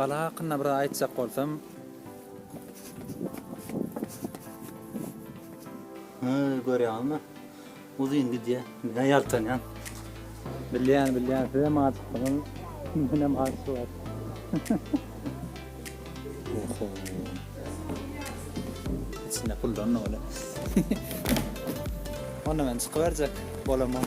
Gala hakynda bir zat aýtjak bolsam. Hä, görýäňizmi? Uzyn gidýär. Menä ýaltanýan. Bilýän, bilýän. Sizem aşyksyňyz. Menem aşyk. Oho. Içinde puldan doly. Onda men çykyberjek bolamok.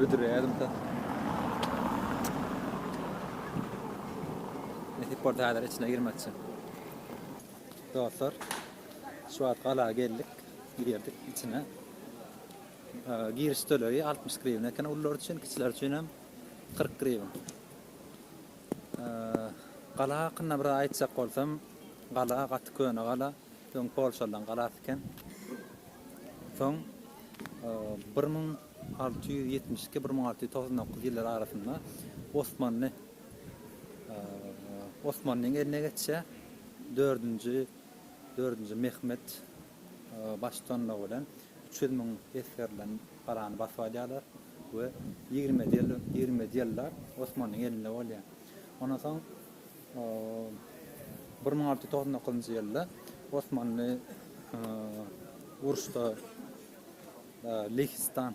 Büdürädim ta. Nesip bolsa häzir içine girmekçi. Dostlar, şu wagt gala geldik, girdik içine. Giriş tölegi 60 grivna eken, ullar üçin, kiçiler üçin hem 40 grivna. Gala hakynda biraz aýtjak bolsam, gala gaty köne gala, öň polşalylaryň galasy eken. Soň bir müň alty ýüz ýetmiş iki-bir müň alty ýüz togsan dokuz ýyllar arasynda Osmanly Osmanlyň eline geçýär. Dördünji Dördünji Mehmet baş tutanlygy bilen üç ýüz müň esgerden galany basyp alýarlar we ýigrimi ýedi ýyllap Osmanlyň elinde bolýar. Ondan soň bir müň alty ýüz togsan dokuzynjy ýylda Osmanly uruşda Lehistan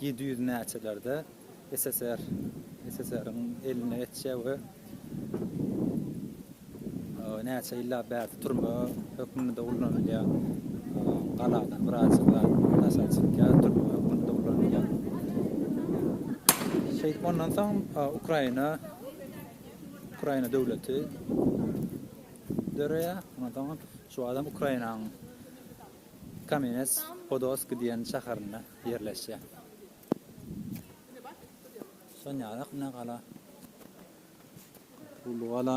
Ýedi ýüz näçelerde SSR, SSR-iň eline geçýär we näçe ýyllap bärde türme hökmünde ulanylýar. Galadan bir aýjyk zat daşary çykýar, türme hökmünde ulanylýar. Şeýdip, ondan soň Ukraina, Ukraina döwleti döreýär. Ondan soň şu adam Ukrainanyň. Kamenets-Podolsky diýen şäherinde ýerleşýär. Sonýarak ine gala. Uly gala.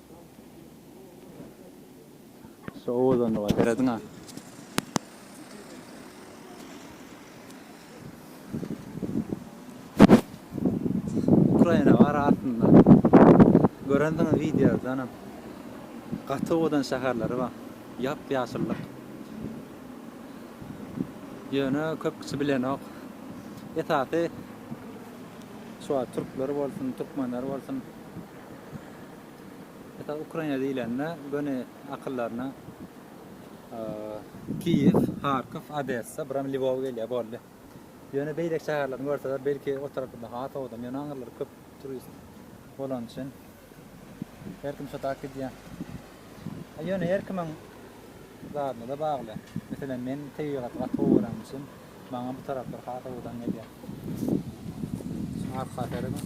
Şu owazdan doga serediňa. Ukraina bar aslynda. Görendiňiz wideodanam. Gaty owadan şäherleri bar. Ýap ýaşyllyk. Ýöne köp kişi bilenok. Esasy şu türkler bolsun, türkmenler bolsun. Esasy Ukraina diýlende göni akyldaryna Kiýew, Harkow, Odessa, bir hem Lwow gelýär boldy. Ýöne beýleki şäherlerini görseler, belki o tarapda ha sowdam, ýöne aňyrlar köp turist bolany üçin her kim şo tak gidýär. A ýöne her kimiň zadyna da bagly. Meselem, men tebigaty gaty gowy görenim üçin maňa bu taraplar ha sowdan gelýär. Arka serediň.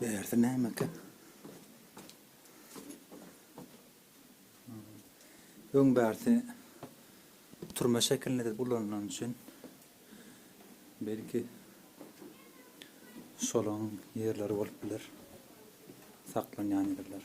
Bärde nämeka? Öň bärde turma şekilinde de ulanylany üçin belki şolaň ýerleri bolup biler. Saklanýan ýerler.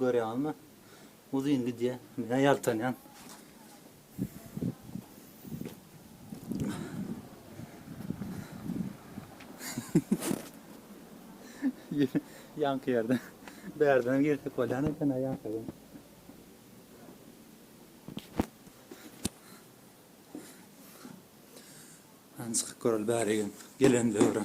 Görýäňizmi? Uzyn gidýär. Men ýaltanýan. Ýaňky ýerde. Bärden girsek bolýan eken-ä ýaňkydan. Hany çykyp göreli bärigem. Gelen döwre.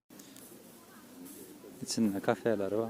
Içinde kafeleri bar.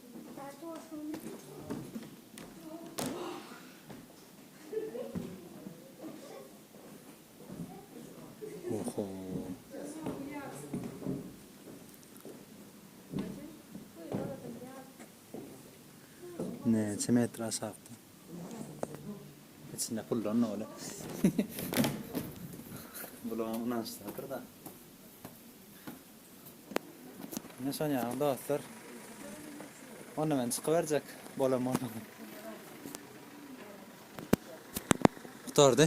Näçe metr aşakda? İçinde puldan öyle. Bulan unaşsadır da. Ine şonýaly dostlar. Onda men çykyberjek bolan bolsam. Gutardy.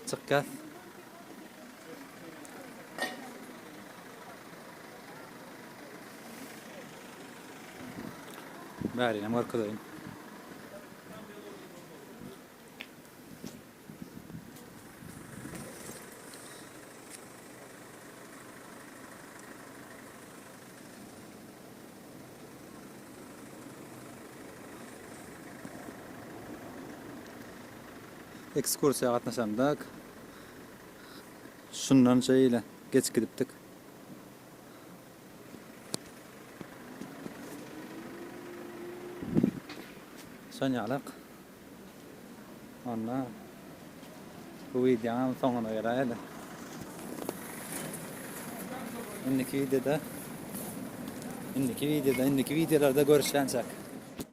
Çykýas. Bärinem görkezeýin. Ekskursiýa gatnaşandyk. Şundan şeýle geç gidipdik. Şanyýalak Onda bu wideonyň soňuna gelaýda. Indiki wideoda indiki wideoda indiki wideolarda görüşýänçäk.